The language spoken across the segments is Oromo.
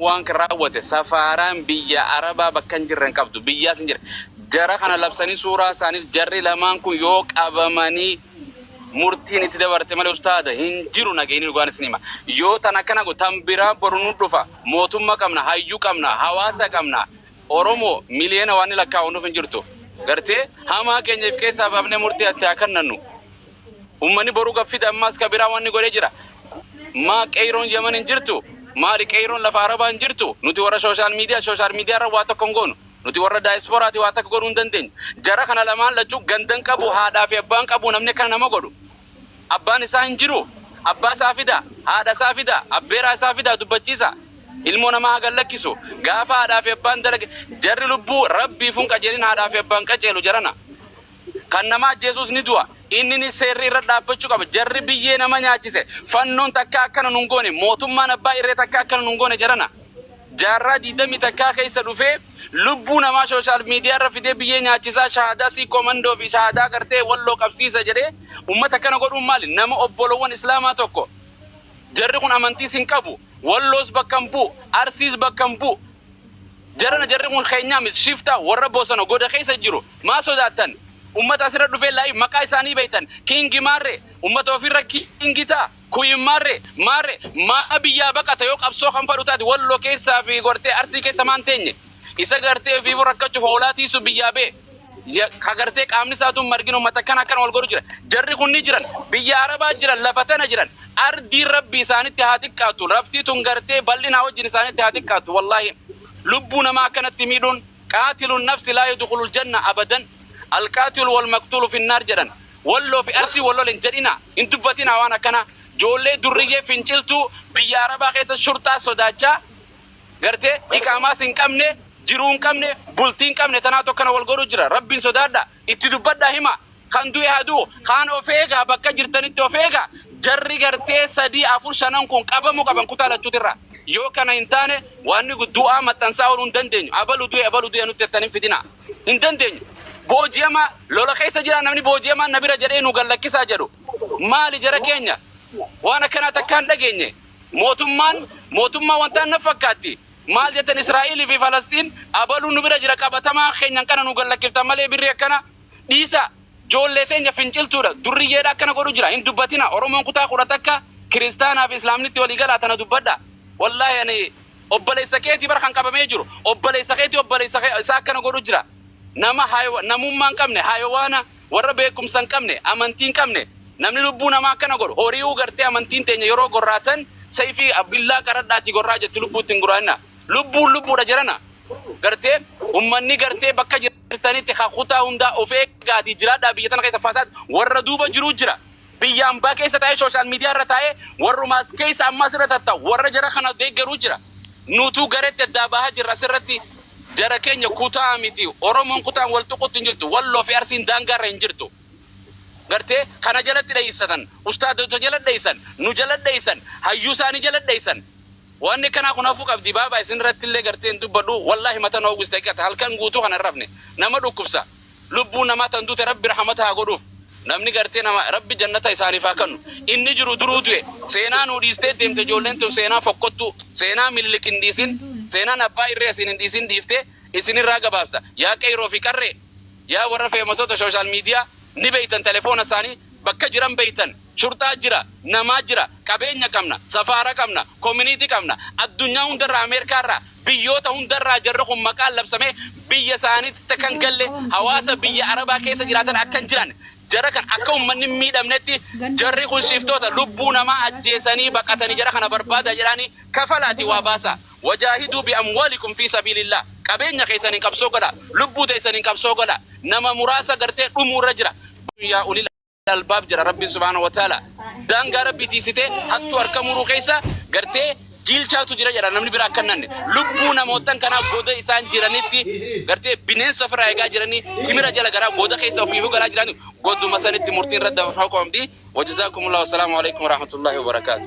waan kan raawwate safaaraan biyya arabaa bakka hin jirre hin qabdu biyyaas hin jirre jara kana labsanii suuraa isaaniif jarri lamaan kun yoo qabamanii murtiin itti dabarte malee ustaada hin jiru nageenyi dhugaan isin hima yoo tan akkana go tan biraa boru nu dhufa mootummaa qabna hayyuu qabna hawaasa qabna Oromo miliyoona waanni lakkaa'u nuf hin jirtu. Gartee? Hamaa keenya if keessaa baafnee murtii atti haa kannannu. Ummani boru gaffida ammaas ka biraa wanni godhe jira. Maa qeyroon Yaman hin jirtu? Maali qeyroon lafa Arabaa hin jirtu? Nuti warra social media social media irra waa tokko hin goonu. Nuti warra diaspora ti waa takka godhuu hin dandeenyu. Jara kana lamaan lachuu gandan qabu haadhaa fi abbaan qabu namni akkana nama godhu. Abbaan isaa hin jiruu? Abbaa isaa fidaa, haadha isaa fidaa, abbeeraa isaa fidaa dubbachiisaa. Ilmoo namaa haa gad lakkisu. Gaafa haadhaa fi abbaan dalage jarri lubbuu Rabbiifuu hin qajeelin haadhaa fi abbaan qaceelu jarana. Kan nama ajjeesuus ni du'a. Inninis seerri irra dhaabbachuu qaba. Jarri biyyee nama nyaachise fannoon takkaa akkana nun goone mootummaan abbaa irree takkaa akkana nun goone jarana. Jaarraa 21 keessa dhufee lubbuu namaa sooshaal miidiyaa irra fidee biyyee nyaachisaa shahaadaa siikkoo mandoo fi shahaadaa gartee walloo qabsiisa jedhee ummata akkana godhuun maali? Nama obbolowwan islaamaa tokko jarri kun amantiis hin qabu, walloos bakka hin bu'u, arsiis bakka hin bu'u, jarana jarri kun keenyaa miti shiftaa warra bosona goda keessa jiru maa sodaattan? Ummata asirra dhufee laayiif maqaa isaanii beektan kiingi maarree ummata ofiirra kiingi ta'a. Queen marre marre maa biyyaa baqata yoo qabsoo kan fadhu taate wallo keessa fi gortee arsii keessa maan teenye isa gartee ofiifu rakkachuuf hoolaa tiisu biyyaa bee ya- ka gartee qaamni isaatu margin ummata akkana akkana wal godhu jira jarri kun ni jiran biyya arabaa jiran lafa tana jiran ardiin rabbi isaanitti haa xiqqaattu laftii tun gartee bal'inaa wajjin isaanitti haa xiqqaattu wallaahi lubbuu namaa akkanatti miidhuun qaatilun nafsi laa yadkhulul janna abadan alqaatilu wal maqtuulu finnaar jedhan Walloo fi Arsii wal lolen jedhinaa. Hin dubbatinaa waan akkanaa. Joollee durriyyee finciltuu biyya Arabaa keessa shurxaa sodaachaa gartee iqaamaas hin qabne, jiruu hin qabne, bultii hin qabne tanaatu akkana wal godhuu jira. Rabbiin sodaadhaa. Itti dubbadhaa himaa. Kan du'e haa du'u. Kaan of eegaa bakka jirtanitti of eegaa. Jarri gartee sadii afur shanan kun qabamuu qaban kutaa lachuutirraa. Yoo kana hin taane waanni du'aa maxxansaa ooluu hin dandeenyu. Abalu du'e abalu du'e nutti jettan hin fidinaa. hin dandeenyu. Booji'amaa, lola keessa jira, namni booji'amaan na bira jedhee nu gad lakkisaa jedhu. Maali jara keenya? Waan akkanaa takkaa hin dhageenye. Mootummaan, mootummaa wantaan na fakkaatti. Maal jettan Israa'elii fi Falasxiin abaluun nu bira jira qabatamaa keenyan kana nu gad lakkiftan malee birrii akkana dhiisaa. Joollee teenya finciltuudha, durriyyeedha akkana godhu jira. Hin dubbatinaa. Oromoon kutaa 11 kiristaanaa fi Islaamnitti walii galaa tana dubbadhaa. Wallaahi ani Obboleessa keeti bar kan qabamee jiru obboleessa keeti obboleessa kee isaa akkana godhu jira nama haywa namummaa hin qabne hayawaana warra beekumsa hin qabne amantii hin qabne namni lubbuu namaa akkana godhu horiyuu gartee amantiin teenya yeroo gorraatan sayfii billaa qaradhaatii gorraa jetti lubbuutti hin guraanna lubbuun lubbuudha jirana gartee ummanni gartee bakka jirtanitti kan kutaa hundaa of eegaatii jiraadhaa biyya tana keessa fasaad warra duuba jiruu jira Biyya ambaa keessa taa'ee social media irra taa'ee warruma as keessa amma asirra tatta'u warra jara kana deeggaru jira. Nutuu gareetti addaa bahaa jirra asirratti jara keenya kutaa miti Oromoon kutaan wal tuquutti hin jirtu Walloo fi Arsiin daangaa irra hin jirtu. Gartee kana jalatti dheessatan ustaadota jala dheessan nu jala dheessan hayyuu isaanii jala dheessan waanni kanaa kun hafuu qabdi baabaa isin irratti illee gartee hin dubbadhu wallaahi mata na uwwiste haqiqata halkan guutuu kana hin rafne nama dhukkubsa Lubbuu namaa tan dute Rabbi rahamata haa godhuuf. Namni gartee nama Rabbi jannata isaaniif haa kannu. Inni jiru duruu du'e. Seenaa nuu dhiistee deemte ijoolleen tun seenaa fokkottuu. Seenaa Minilik hin dhiisin. Seenaan abbaa irree asiin hin dhiisin dhiiftee isin irraa gabaabsa. Yaa qeyroo fi qarree! Yaa warra feemasota social media ni beeytan telefoona isaanii bakka jiran beeytan. Shurxaa jira, namaa jira, qabeenya qabna, safaara qabna, community qabna, addunyaa hundarraa Ameerikaa irraa, biyyoota hundarraa jarri kun maqaan labsamee biyya isaaniitti akka hin galle, hawaasa biyya Arabaa keessa jiraatan akka hin jiraanne, jara kan akka ummanni hin miidhamnetti jarri kun shiftoota lubbuu namaa ajjeesanii baqatani jara kana barbaada jedhaani kafalaati waa baasaa. Wajaahiduu bi amwaalikum fii sabiilillaah. Qabeenya keessaniin qabsoo godhaa. Lubbuu teessaniin qabsoo godhaa. Nama muraasa gartee dhumuurra jira. Yaa ulil albaab jira rabbiin subhaanahu wa ta'ala daangaa rabbii tiisitee hattuu harka muruu keessa gartee jiilchaatu jira jedha namni bira akka nanne lubbuu namootan kanaa goda isaan jiranitti gartee bineensa ofirraa eegaa jiranii timira jala garaa goda keessa ofiifuu galaa jiranii goduma sanitti murtiin irra dabarfamuu qabdi wajjizaakumullah wasalaamu alaikum warahmatullahi wabarakaatu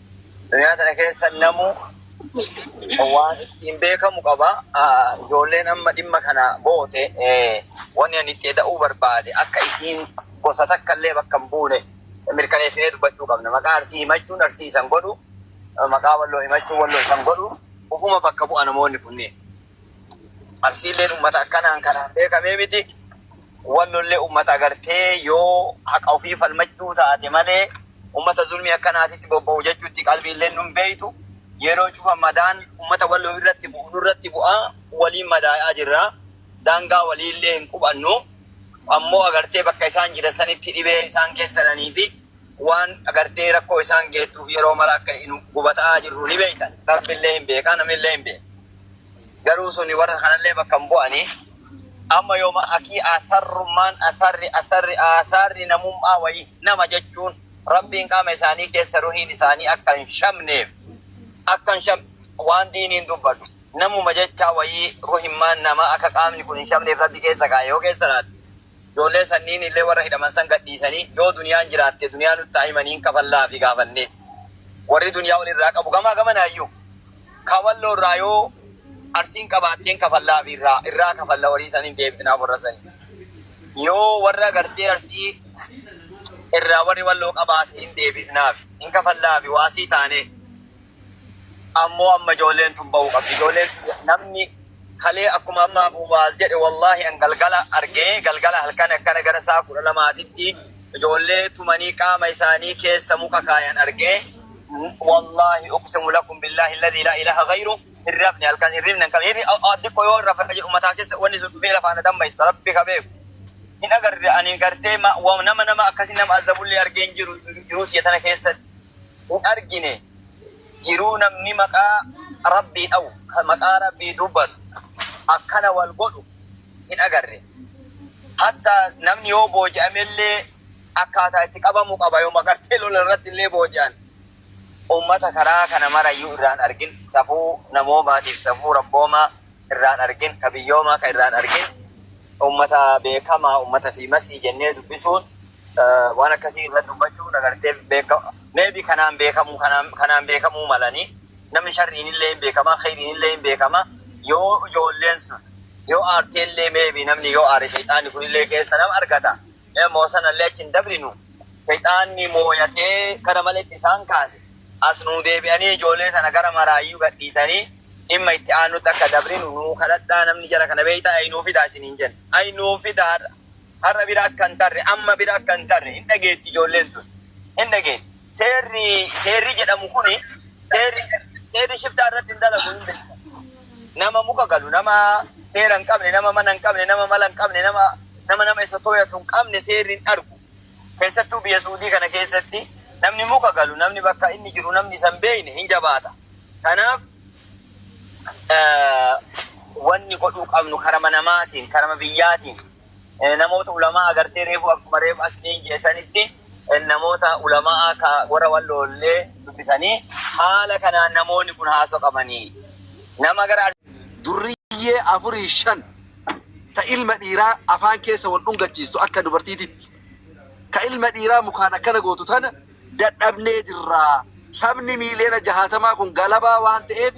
Duniyaa tana keessa namu waan ittiin beekamu qaba. Ah, Ijoolleen amma dhimma kana goote eh, wanni ani itti eda'uu barbaade akka isiin gosa takka illee bakka hin buune mirkaneessinee dubbachuu qabna. Maqaa arsii himachuun arsii isan godhu, eh, maqaa walloo himachuun walloo isan godhu, ufuma bakka bu'a namoonni kunneen. Arsiilleen ummata akkanaan kanaan beekamee miti. Wallollee ummata agartee yoo haqa ofii falmachuu taate malee ummata zulmii akkanaatitti bobba'u jechuutti qalbiilleen nun beektu. Yeroo cufa madaan ummata walloo irratti bu'u nurratti bu'a. Waliin madaa'aa jirra. Daangaa waliillee hin qubannu. Ammoo agartee bakka isaan jiran sanitti dhibee isaan keessananii fi waan agartee rakkoo isaan geettuuf yeroo mara akka nu gubataa jirru ni beektan. Rabbillee hin beeka, namnillee hin beeka. garuu suni warra kanallee bakka hin bu'ani. Amma yooma akii asarrummaan, asarri, asarri, aasaarri namummaa wayii, nama jechuun Rabbiin qaama isaanii keessa ruhiin isaanii akka hin shamneef, akka hin sham, waan diiniin dubbatu, namuma jechaa wayii ruhimmaan namaa akka qaamni kun hin shamneef Rabbi keessa kaa'e yoo keessa laate, Ijoolleen sanniin illee warra hidhaman san gad dhiisanii, Yoo duniyaan jiraatte duniyaa nutti haa himanii hin kafallaafii gaafannee. Warri duniyaa wal irraa qabu gamaa gamanaa iyyuu. Kawalloo irraa yoo Arsiin qabaatte hin kafallaafii irraa, irraa kafalla warii san hin deebifnaaf warra sanii. Yoo warra gartee Arsii irraa warri Walloo qabaate hin deebifnaaf, hin kafallaafi waasii taanee. ammoo amma ijoolleen tun bahuu qabdi ijoolleen tiyya namni kalee akkuma amma abu mu'aaz jedhe wallaahi an galgala argee galgala halkan akkana gara saa kudha lamaatitti ijoollee tumanii qaama isaanii keessa muka kaayan argee wallaahi uqsimu lakum billaahi alladhii laa ilaaha ghayru hin rafne halkan hin rifne kan hirri xiqqoo yoo rafa jedhu mataa keessa wanni sun dhufee lafaana dammaysa rabbi ka beeku hin agarre ani gartee ma- wa- nama nama akkasii nama azabullee argee hin jiru jiruu tiyya tana keessatti hin argine jiruu namni maqaa rabbii dhawu ka maqaa rabbii dubbatu akkana wal godhu hin agarre hatta namni yoo booji'amellee akkaataa itti qabamu qaba yoo magartee lola irratti illee booji'an ummata karaa kana marayyuu irraan argin safuu namoomaatiif safuu rabboomaa irraan argin, ka biyyoomaa ka irraan argin, ummata beekamaa, ummata fi masii jennee dubbisuun waan akkasii irra dubbachuun agartee beekama. Maybe kanaan beekamuu kanaan kanaan beekamuu malanii namni sharriin illee hin beekama, khayriin illee hin beekama. Yoo ijoolleen sun yoo aartee illee maybe namni yoo aare shayxaanni kun illee keessa nama argata. Moo sanallee achi hin dabrinu. Seyxaanni mooyatee kana maletti isaan kaase. As nuu deebi'anii ijoollee tana gara maraayyuu gadhiisanii dhimma itti aannutti akka dabrinu nuu kadhadhaa namni jara kana beeyta ayi nuu fidaa isiniin jenna. Ayi nuu fida har'a. Har'a bira akka hin tarre amma bira akka hin tarre hin dhageetti ijoolleen tun. Hin dhageetti. Seerri seerri jedhamu kuni seerri seerri shiftaa irratti hin dalagu hin beektan. Nama muka galu, nama seera hin qabne, nama mana hin qabne, nama mala hin qabne, nama nama nama isa toyatu hin qabne seerri hin argu. Keessattuu biyya Suudii kana keessatti namni muka galu, namni bakka inni jiru namni isa hin beekne hin jabaata. Kanaaf eh, wanni godhuu qabnu karama namaatiin, karama biyyaatiin. namoota ulamaa agartee reefu akkuma reefu as dhiin jee sanitti namoota ulamaa ka warra walloollee dubbisanii haala kanaan namoonni kun haasoo qabanii nama gara durriyyee afurii shan ta ilma dhiiraa afaan keessa wal dhungachiistu akka dubartiititti ka ilma dhiiraa mukaan akkana gootu tana dadhabnee jirra. Sabni miiliyoona jahaatamaa kun galabaa waan ta'eef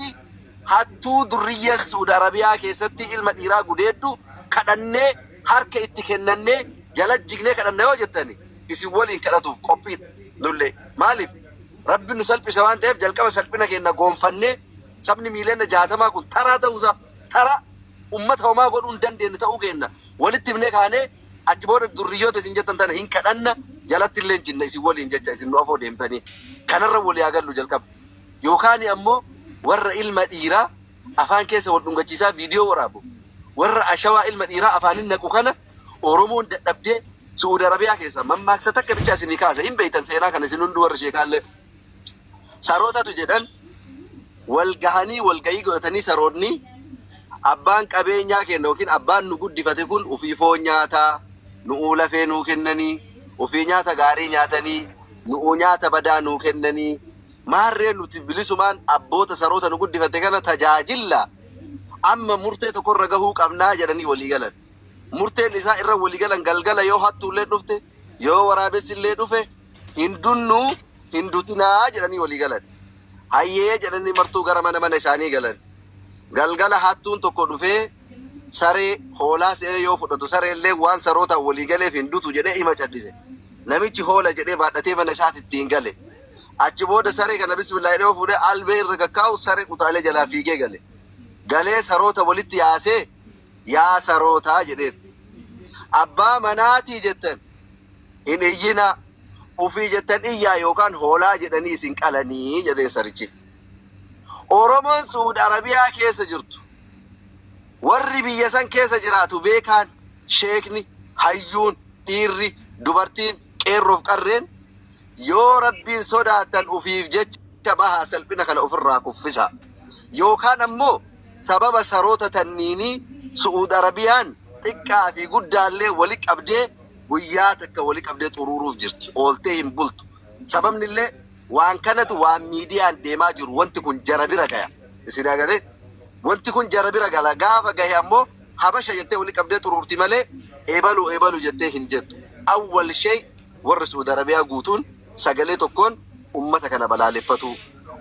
hattuu durriyyeen Suud Arabiyaa keessatti ilma dhiiraa gudeeddu kadhannee harka itti kennannee jala jignee kadhanna yoo jettani isin waliin kadhatuuf qophiidha nullee. Maaliif? Rabbi nu salphise waan ta'eef jalqaba salphina keenya goonfannee sabni miiliyoona jahaatamaa kun taraa ta'uusaa taraa ummata homaa godhuu hin dandeenye ta'uu keenya walitti himnee kaanee Achi booda durriyyoota isin jettan tana hin kadhanna, jalatti illee hin cinna isin waliin jecha isin nu afoo deemtanii. Kanarra walii haa gallu jalqaba. Yookaan ammoo warra ilma dhiiraa afaan keessa wal dhungachiisaa viidiyoo waraabu. Warra ashawaa ilma dhiiraa afaanin naqu kana Oromoon dadhabdee Su'uud Arabiyaa keessaa mammaaksa takka bichaa isinii kaasa. Hin beektan seenaa kana isin hunduu warri sheekaallee. sarootatu jedhan wal gahanii wal gahii godhatanii saroonni abbaan qabeenyaa kenna yookiin abbaan nu guddifate kun ofii foon nyaataa nu'uu lafee nuu kennanii ofii nyaata gaarii nyaatanii nu'uu nyaata badaa nuu kennanii maarree nuti bilisumaan abboota saroota nu guddifate kana tajaajilla amma murtee tokkorra gahuu qabnaa jedhanii walii galan. murteen isaa irra wali galan galgala yoo hattuulleen dhufte yoo waraabessi illee dhufe hin dunnuu hin dutinaa jedhanii walii galan. Hayyee jedhanii martuu gara mana mana isaanii galan. Galgala hattuun tokko dhufee saree hoolaa se'ee yoo fudhatu saree illee waan saroota walii galeef hin dutu jedhee ima cadhise. Namichi hoola jedhee baadhatee mana isaatti ittiin gale. Achi booda saree kana bismillaa jedhee yoo fuudhee albee irra gakkaa'u saree utaalee jalaa fiigee gale. Galee saroota walitti yaasee yaa sarootaa jedheen. Abbaa manaatii jettan hin iyyinaa ufii jettan iyyaa yookaan hoolaa jedhanii isin qalanii jedheen sarichi. Oromoon Su'uud Arabiyaa keessa jirtu warri biyya san keessa jiraatu beekaan sheekni hayyuun dhiirri dubartiin qeerroof qarreen yoo rabbiin sodaattan ufiif jecha bahaa salphina kana ofirraa kuffisa yookaan ammoo Sababa saroota tanniinii Su'uud Arabiyaan xiqqaa fi guddaallee wali qabdee guyyaa takka wali qabdee xuruuruuf jirti. Ooltee hin bultu. Sababnillee waan kanatu waan miidiyaan deemaa jiru wanti kun jara bira gaya. Isin agalee? Wanti kun jara bira gala. Gaafa gahe ammoo habasha jettee wali qabdee xuruurti malee ebalu ebalu jettee hin jettu. Awwal shey warri Su'uud Arabiyaa guutuun sagalee tokkoon ummata kana balaaleffatuu.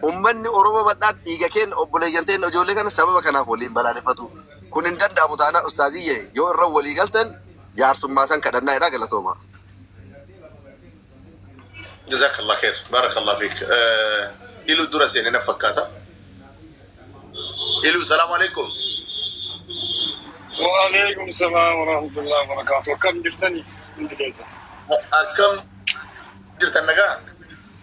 Ummanni Oromoo bal'aan dhiiga keenna, obboleeyyan teenna ijoollee kana sababa kanaaf waliin balaaleffatu. Kun hin danda'amu taanaan ustaaziyye yoo irra walii galtan jaarsummaasan kadhannaa jedha galatoomaa. Jazakallah kheer barakallah fiik ilu dura seene na fakkaata ilu salaam alaikum Waalaikum salaam warahmatullahi wabarakatuh. Akkam jirtani hundi keessa? akkam jirtan nagaa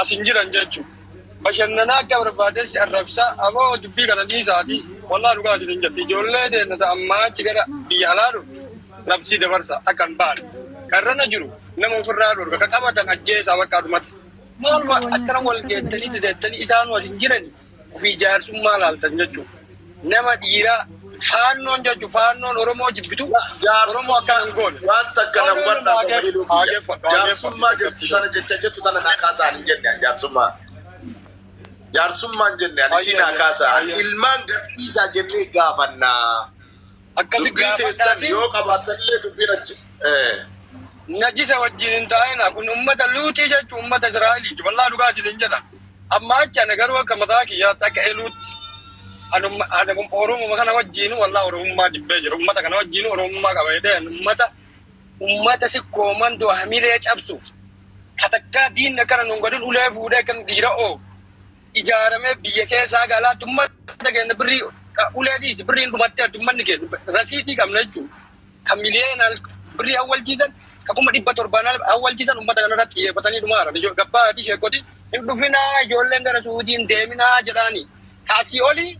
as hin jiran jechu bashannanaa akka barbaadeessi arrabsaa aboo dubbii kana dhiisaati wallaa dhugaa isin hin jirti ijoollee deemna ta ammaa achi gara biyya alaa dhufne labsii dabarsa akka hin baane karrana jiru nama ofirraa dhorka ka qabatan ajjeesaa bakka dhumate maaluma akkana wal geettanii deettanii isaanuu as hin jirani ofii jaarsummaa laaltan jechuudha. Nama dhiiraa faannoon jechuun faannoon Oromoo jibbitu Oromoo akka hin goone. Waan takka na hubadhaa qofa jedhuu kiyya. Jaarsummaa jettu sana jecha jettu tana naa kaasaa hin jenne ani jaarsummaa. Jaarsummaan jenne ani ishii naa kaasaa. Ani ilmaan gadhiisaa jennee gaafannaa. Akkasi Dubbii gaafadhaa teessan fi yoo qabaattan illee dubbiin achi. Eh. najisa wajjin hin taa'ina. Kun ummata luuxii jechuun ummata Israa'eliiti. Wallaa dhugaa isiniin jedha. Amma achi ana garuu akka mataa kiyyaatti akka eluutti. Anuma ana Oromuma kana wajjin wallaa Oromummaa jibbee jira. Ummata kana wajjin Oromummaa qaba jedhee ani ummata ummata si koomandoo hamilee cabsu. Katakkaa diinni akkana nuun godhin ulee fuudhee kan dhiira oo. ijaaramee biyya keessaa ga alaatti ummata keenya birrii ka- ulee dhiisi birriin dhumattee ummanni keenya rasiitii qabna jechuudha. Kan miliyeenaan birrii hawwalchiisan kan kuma dhibba torbaan ala hawwalchiisan ummata kanarratti xiyyeeffatanii dhumaara. Ijoo- Gabbaa ati sheekoti hin dhufinaa ijoolleen gara suutiin deeminaa jedhaani. Kaasii olii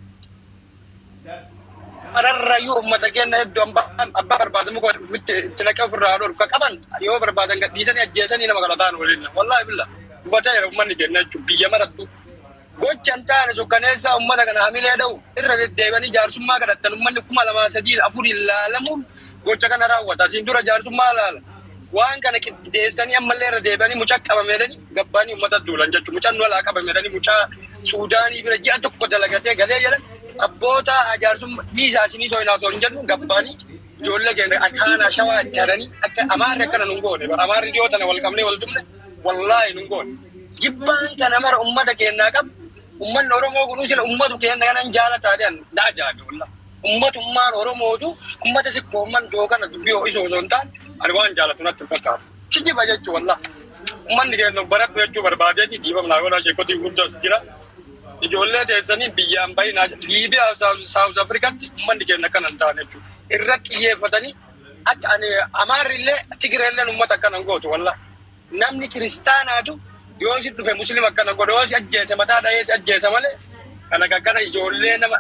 Kanarrayyuu uummata keenya hedduu ambaan abbaa barbaadamu godhu mitti itti naqee ofirraa haa dhorku. Ka qaban yoo barbaadan gad dhiisanii ajjeesanii nama kana ta'an waliin. Wallaahi billa hubatee jira uummanni keenya jechuun biyya marattu. Gocha hin taane sukkaneessaa uummata kana hamilee dha'u irra deddeebi'anii jaarsummaa kadhattan uummanni kuma lamaa sadiin afuriin laalamuuf gocha kana raawwata. Asiin dura jaarsummaa laala. Waan kana qindeessanii ammallee irra deebi'anii mucaa qabame jedhanii gabbaanii uummata duulan jechuudha. Mucaan nu alaa qabame jedhanii mucaa Suudaanii bira ji'a tokko dalagatee galee jedhan abboota jaarsummaa dhiisaa isinii sooyinaa osoo hin jedhu gabbaanii ijoollee keenya akaanaa shawaa itti hadanii akka amaarri akkana nun goone bara amaarri dhiyoo tana wal qabnee wal dubne wallaahi nun goone. Jibbaan kana mara uummata keenyaa qabu uummanni Oromoo kun sila uummatu keenya kanan jaalataa jedhan na ajaa'ibe wallaahi. Ummata ummaan Oromootu ummata si koomman doo kana dubbii ho'isuu osoo hin taane ani waan jaalatu natti hin fakkaatu. Kijiba jechuu wallah. Ummanni keenya of baradhu jechuu barbaadeeti dhiifama naa godhaa sheekotii gurguddaa as jira. Ijoollee teessanii biyyaa hin bahinaa jedha. Liibiyaa fi Saawuz Afrikatti ummanni keenya akkana hin taane jechuudha. Irratti xiyyeeffatanii akka ani Amaarri illee Tigiree illee ummata akkana hin gootu wallah. Namni kiristaanaatu yoo si dhufe muslima akkana godha yoo si ajjeese mataa dhahee si ajjeesa malee kana kakkana ijoollee nama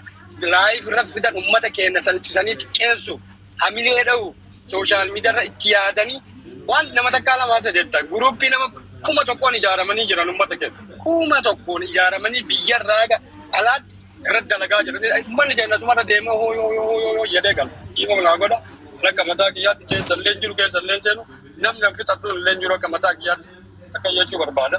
live irra fidan ummata keenya salphisanii xiqqeessu hamilee dhahu social media irra itti yaadanii waan nama takkaa lamaa sadeetta guruuppii nama kuma tokkoon ijaaramanii jiran ummata keenya kuma tokkoon ijaaramanii biyya irraa ga alaatti irra dalagaa jiran ummanni keenya tumarra deemee hoo yoo yoo yoo yoo jedhee gala dhiifama naa godha rakka mataa kiyyaatti keessallee jiru keessallee seenu Namni an fixadhu illee hin jiru akka mataa kiyyaatti akkan jechuu barbaada.